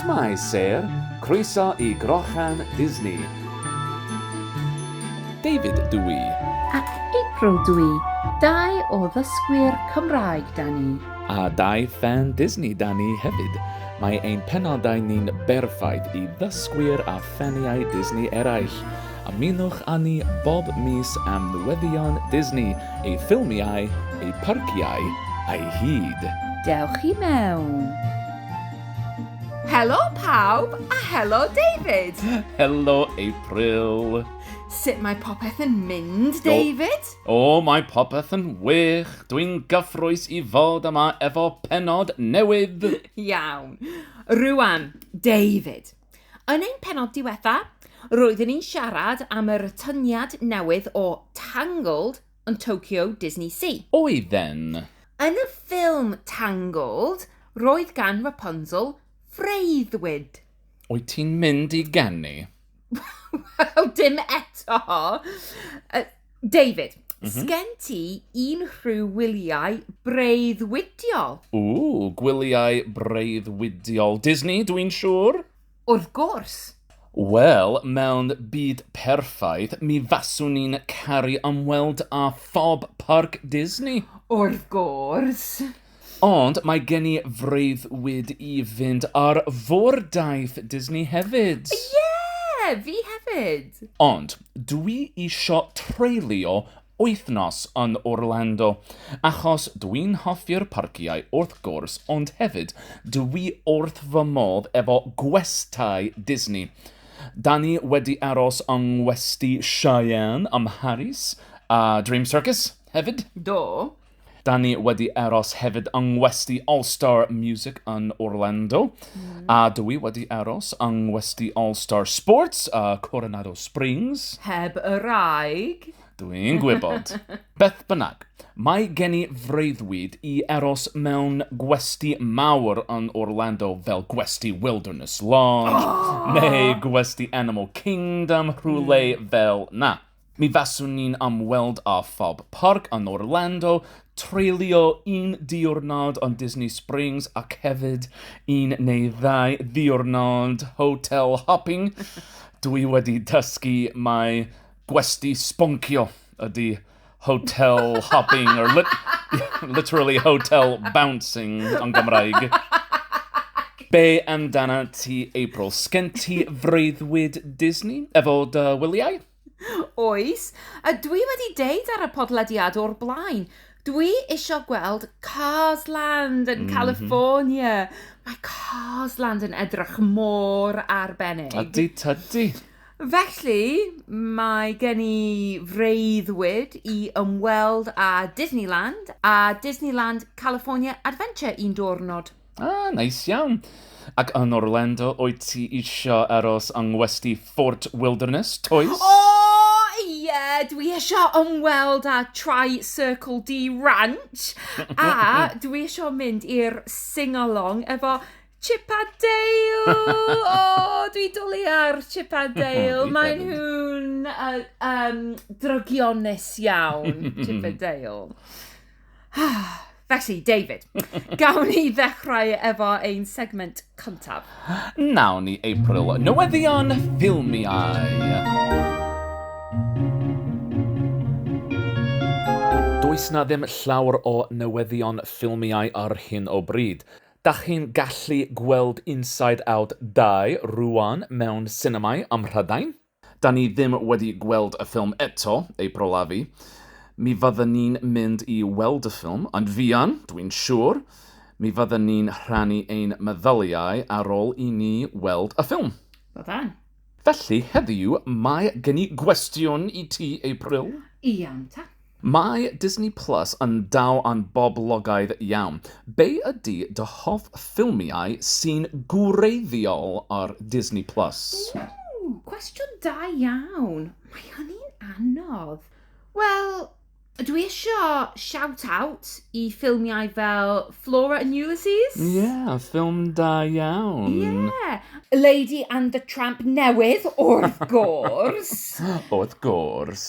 Shwmae Syr, croeso i Grochan Disney. David dw i. A April dw i, dau o ddysgwyr Cymraeg 'da ni. A dau ffan Disney 'da ni hefyd. Mae ein penodau ni'n berffaith i ddysgwyr a ffaniau Disney eraill. Ymunwch â ni bob mis am newyddion Disney, ei ffilmiau, ei parciau a'i hyd. Dewch i mewn! Helo pawb a helo David! Helo April! Sut mae popeth yn mynd, David? O, o mae popeth yn wych! Dwi'n gyffrous i fod yma efo pennod newydd! Iawn. Rwan, David, Yn ein penod diwetha, roeddwn i'n siarad am yr atyniad newydd o Tangled yn Tokyo Disney Sea. Oedden. Yn y ffilm Tangled, roedd gan Rapunzel freuddwyd. Wyt ti'n mynd i ganu? Wel, dim eto. David, mm -hmm. sgen ti un rhyw wyliau breuddwydiol? Ww, gwyliau breuddwydiol Disney, dwi'n siŵr? Wrth gwrs. Wel, mewn byd perffaith, mi faswn ni'n caru ymweld â phob parc Disney. Wrth gwrs. Ond mae gen i freuddwyd i fynd ar Fordaith Disney hefyd! Ie! Fi hefyd! Ond dwi isio treulio wythnos yn Orlando, achos dwi'n hoffi'r parciau wrth gwrs ond hefyd dwi wrth fy modd efo gwestai Disney. Da ni wedi aros yng ngwesty Cheyenne ym Mharis a Dream Circus hefyd. Do. Da ni wedi aros hefyd yng Ngwesty All Star Music yn Orlando, mm. a dw i wedi aros yng Ngwesty All Star Sports, uh, Coronado Springs. Heb y raig. Dw i'n gwybod. Beth bynnag, mae gen i freuddwyd i aros mewn gwesti mawr yn Orlando fel gwesti Wilderness Lodge oh! neu gwesti Animal Kingdom rhywle mm. fel na. Mi faswn ni'n am weld a Fob Park yn Orlando, treulio un diwrnod yn Disney Springs ac hefyd un neu ddau ddiwrnod hotel hopping. Dwi wedi dysgu mai gwesty sboncio ydy hotel hopping, or lit literally hotel bouncing yn Gymraeg. Be amdanat ti, April? Sgen ti freuddwyd Disney efo dy wyliau? Oes, a dwi wedi deud ar y podlediad o'r blaen, dwi isio gweld Cars Land yn California. Mae Cars Land yn edrych mor arbennig. Ydy, tydy. Felly, mae gen i freuddwyd i ymweld â Disneyland a Disneyland California Adventure un diwrnod. Ah, nice iawn. Ac yn Orlando, wyt ti eisiau aros yng ngwesty Fort Wilderness, toes? O, ie, dwi eisiau ymweld â Tri Circle D Ranch, a dwi eisiau mynd i'r sing-along efo Chip a Dale! O, dwi dwlu ar Chip a Dale. Maen nhw'n uh, um, drygionus iawn, Chip a Dale. Felly, David, gawn ni ddechrau efo ein segment cyntaf. Nawn ni, April, newyddion ffilmiau. Does na ddim llawr o newyddion ffilmiau ar hyn o bryd. Da chi'n gallu gweld Inside Out 2 rŵan mewn sinemâu ym Mhrydain? Da ni ddim wedi gweld y ffilm eto, ei brolefi. Mi fydden ni'n mynd i weld y ffilm, yn fuan, dwi'n siŵr. Mi fydden ni'n rhannu ein meddyliau ar ôl i ni weld y ffilm. Byddan. Felly, heddiw, mae gen i gwestiwn i ti, April. Iawn ta. Mae Disney Plus yn daw yn boblogaidd iawn. Be ydy dy hoff ffilmiau sy'n gwreiddiol ar Disney Plus? Ww! Cwestiwn da iawn! Mae hynny'n anodd. Wel, dwi isio shout out i ffilmiau fel Flora and Ulysses. Ie, ffilm da iawn. Ie! Lady and the Tramp newydd, wrth gwrs! Wrth gwrs.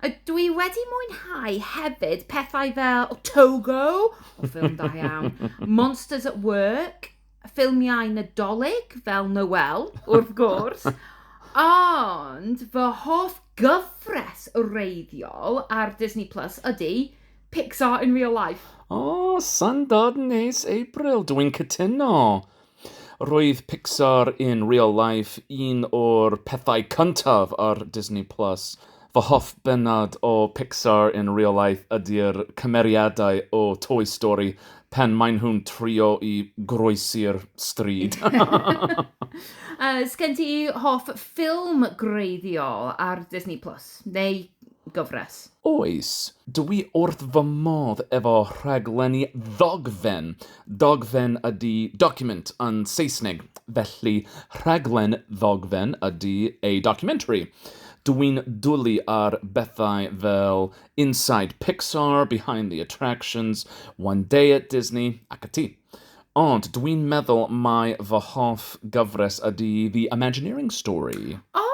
A dwi wedi mwynhau hefyd pethau fel Otogo, o ffilm da iawn, Monsters at Work, ffilmiau Nadolig fel Noel, wrth gwrs, ond fy hoff gyfres wreiddiol ar Disney Plus ydy Pixar in Real Life. O, syndod neis April, dw i'n cytuno! Roedd Pixar in Real Life un o'r pethau cyntaf ar Disney Plus. Fy hoff bennod o Pixar in Real Life ydi'r cymeriadau o Toy Story pan maen nhw'n trio i groesi'r stryd. Sgen ti hoff ffilm gwreiddiol ar Disney Plus, neu gyfres? Oes, dw i wrth fy modd efo rhaglenni ddogfen. Dogfen ydi document yn Saesneg, felly rhaglen ddogfen ydi a documentary. Dw i'n dwlu ar bethau fel Inside Pixar, Behind the Attractions, One Day at Disney ac ati. Ond dwi'n meddwl mai fy hoff gyfres ydy The Imagineering Story. O,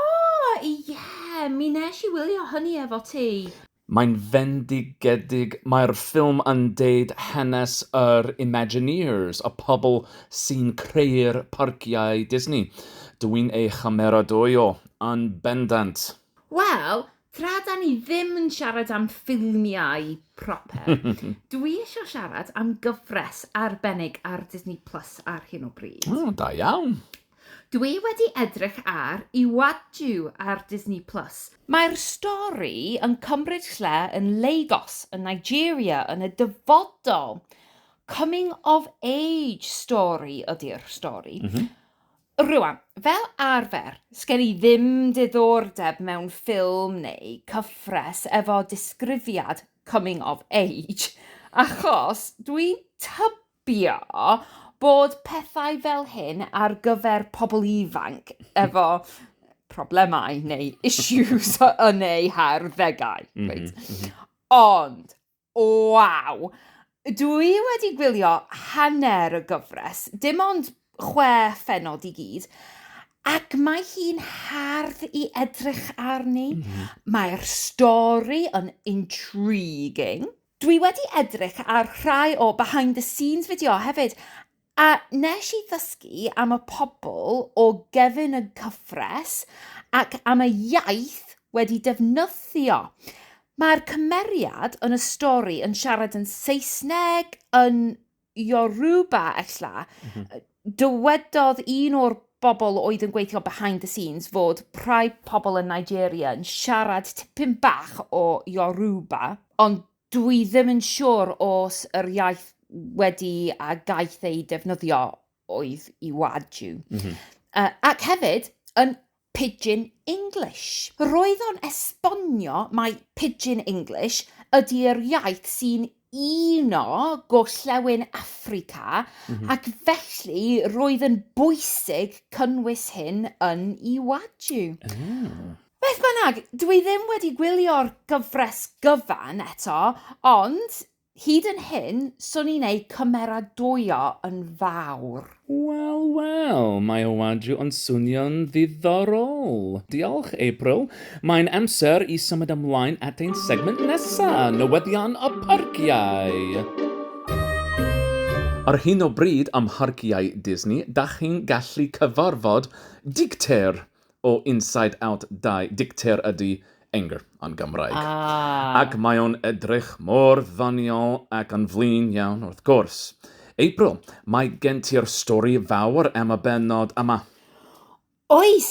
ie! Mi nes i wylio hynny efo ti. Mae'n fendigedig, mae'r ffilm yn deud hanes yr Imagineers, y pobl sy'n creu'r parciau Disney. Dwi'n ei chymeradwyo yn bendant. Wel, Tra da ni ddim yn siarad am ffilmiau proper, dwi eisiau siarad am gyfres arbennig ar Disney Plus ar hyn o bryd. O, da iawn. Dwi wedi edrych ar Iwaju ar Disney Plus. Mae'r stori yn cymryd lle yn Lagos yn Nigeria yn y dyfodol. Coming of age story ydy'r stori. Mm -hmm. Rŵan, fel arfer, sgen i ddim diddordeb mewn ffilm neu cyfres efo disgrifiad coming of age, achos dwi'n tybio bod pethau fel hyn ar gyfer pobl ifanc efo problemau neu issues yn eu harddegau, reit. Ond, Waw! Dw i wedi gwylio hanner y gyfres, dim ond chwe phennod i gyd, ac mae hi'n hardd i edrych arni. Mae'r stori yn intriguing. Dwi wedi edrych ar rhai o behind the scenes fideo hefyd, A nes i ddysgu am y pobl o gefn y cyfres ac am y iaith wedi defnyddio. Mae'r cymeriad yn y stori yn siarad yn Saesneg, yn Yoruba, ella. Mm -hmm. Dywedodd un o'r bobl oedd yn gweithio behind the scenes fod rhai pobl yn Nigeria yn siarad tipyn bach o Yoruba, ond Dwi ddim yn siwr os yr iaith wedi a gaeth ei defnyddio oedd Iwaju. Mm -hmm. uh, ac hefyd, yn Pidgin English. Roedd o'n esbonio mai Pidgin English ydy'r iaith sy'n uno gorllewin Affrica mm -hmm. ac felly roedd yn bwysig cynnwys hyn yn Iwaju. Mm. Beth bynnag, dw i ddim wedi gwylio'r gyfres gyfan eto, ond hyd yn hyn, swn i'n eu cymeradwyo yn fawr. Wel, wel, mae o wadju ond swnio'n ddiddorol! Diolch, April. Mae'n amser i symud ymlaen at ein segment nesa, newyddion y parciau! Ar hyn o bryd ym mharciau Disney, dach chi'n gallu cyfarfod dicter! o Inside Out 2, dicter ydy Anger yn Gymraeg. Ah. Ac mae o'n edrych mor ddoniol ac yn flin iawn, wrth gwrs. April, mae gen ti'r stori fawr am y bennod yma. Oes,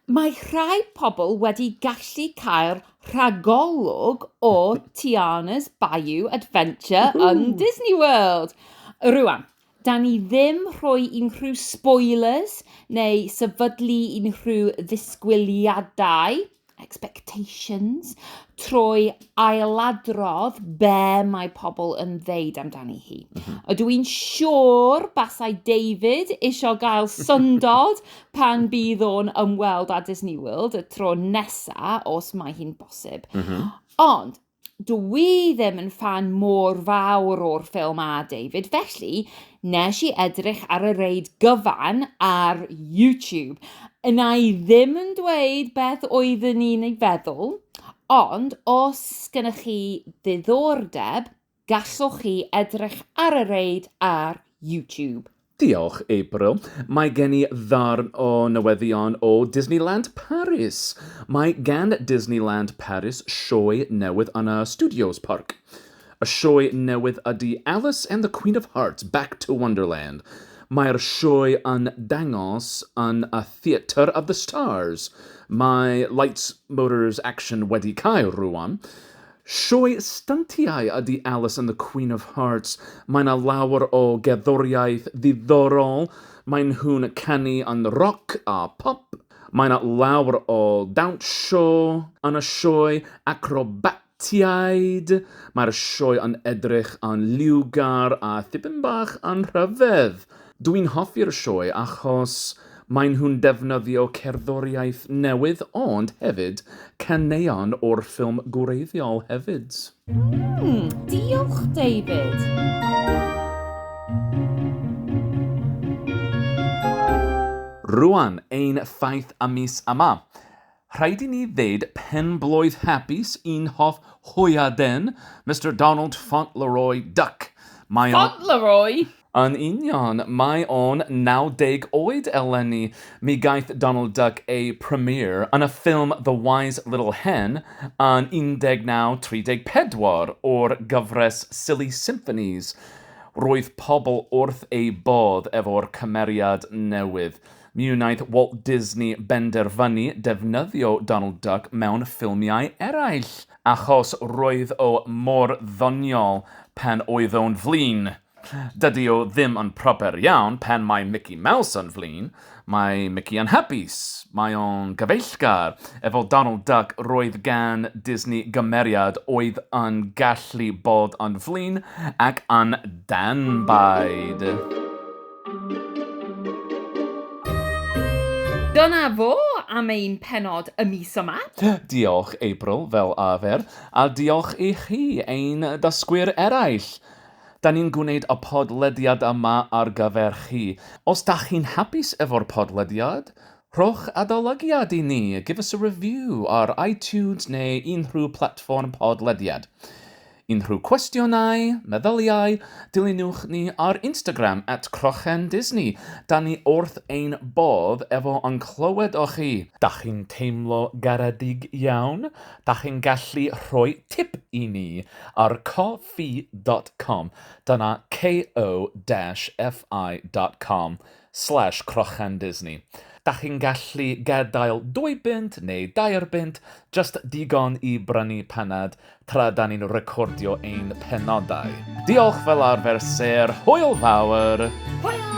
mae rhai pobl wedi gallu cael rhagolwg o Tiana's Bayou Adventure yn Disney World. Rwan, Dan ni ddim rhoi unrhyw spoilers neu sefydlu unrhyw ddisgwyliadau, expectations, trwy ailadrodd be mae pobl yn ddeud amdani hi. Mhm. Ydw i'n siŵr basai David eisiau gael syndod pan bydd o'n ymweld â Disney World y tro nesa, os mae hi'n bosib. Mhm. Ond, Dw i ddim yn ffan mor fawr o'r ffilm â David, felly nes i edrych ar y reid gyfan ar YouTube. Yna i ddim yn dweud beth oeddwn i'n ei feddwl, ond os gennych chi ddiddordeb, gallwch chi edrych ar y reid ar YouTube. Diolch, April. Mae gen i ddarn o newyddion o Disneyland Paris! Mae gan Disneyland Paris sioe newydd yn y Studios Parc. Y sioe newydd ydy Alice and the Queen of Hearts, Back to Wonderland. Mae'r sioe yn dangos yn y Theatre of the Stars. Mae Lights, Motors, Action wedi cau rŵan. Sioe styntiau ydy Alice and the Queen of Hearts, mae 'na lawer o gerddoriaeth ddiddorol, mae nhw'n canu yn roc a pop, mae 'na lawer o dawnsio yn y sioe, acrobatiaid, mae'r sioe yn edrych yn liwgar a thipyn bach yn rhyfedd. Dw i'n hoffi'r sioe achos maen nhw'n defnyddio cerddoriaeth newydd ond hefyd caneuon o'r ffilm gwreiddiol hefyd. Mm, diolch David! Rwan, ein ffaith am mis yma. Rhaid i ni ddeud penblwydd hapus i'n hoff hwyaden, Mister Donald Fauntleroy Duck. Mae o'n... Fauntleroy? Yn union, mae o'n 90 oed eleni. Mi gaeth Donald Duck ei premiere yn y ffilm The Wise Little Hen yn 1934 o'r gyfres Silly Symphonies. Roedd pobl wrth eu bodd efo'r cymeriad newydd. Mi wnaeth Walt Disney benderfynu defnyddio Donald Duck mewn ffilmiau eraill achos roedd o mor ddoniol pan oedd o'n flin. Dydy o ddim yn proper iawn pan mae Mici Maws yn flin, mae Mici yn hapus, mae o'n gyfeillgar. Efo Donald Duck roedd gan Disney gymeriad oedd yn gallu bod yn flin ac yn danbaid. Dyna fo am ein pennod y mis yma. Diolch, April, fel arfer, a diolch i chi, ein dysgwyr eraill! Da ni'n gwneud y podlediad yma ar gyfer chi. Os da chi'n hapus efo'r podlediad, rhowch adolygiad i ni, give us a review ar iTunes neu unrhyw platfform podlediad. Unrhyw cwestiynau, meddyliau, dilynwch ni ar Instagram at Crochan Disney, da ni wrth ein bodd efo yn clywed o chi! Dach chi'n teimlo garedig iawn? Dach chi'n gallu rhoi tip i ni ar ko-fi dot com, dyna ko-fi dot com, slash crochan Disney. Dach chi'n gallu gadael dwy bunt neu dair bunt, just digon i brynu panad tra da ni'n recordio ein penodau. Diolch fel arfer Sir, hwyl fawr! Hwyl!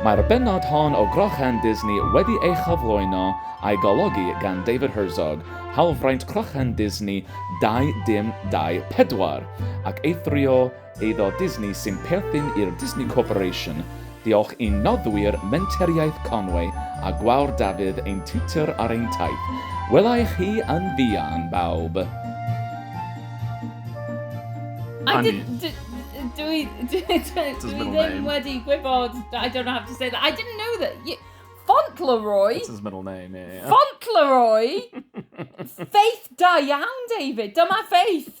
Mae'r bennod hon o Grochan Disney wedi ei chyflwyno a'i golygu gan David Herzog, Hawlfraint Crochan Disney 2024, ac eithrio Eiddo Disney sy'n perthyn i'r Disney Corporation, diolch i'n noddwyr Menteriaeth Conway a Gwawr Dafydd ein tiwtor ar ein taith. Wela i chi yn fuan, bawb! I didn't. Did, do we? Do, do, do we then Weddy Gwybod? I don't have to say that. I didn't know that. You, Fauntleroy. It's his middle name, yeah. Fauntleroy. Faith da iawn, David. Dyma Faith.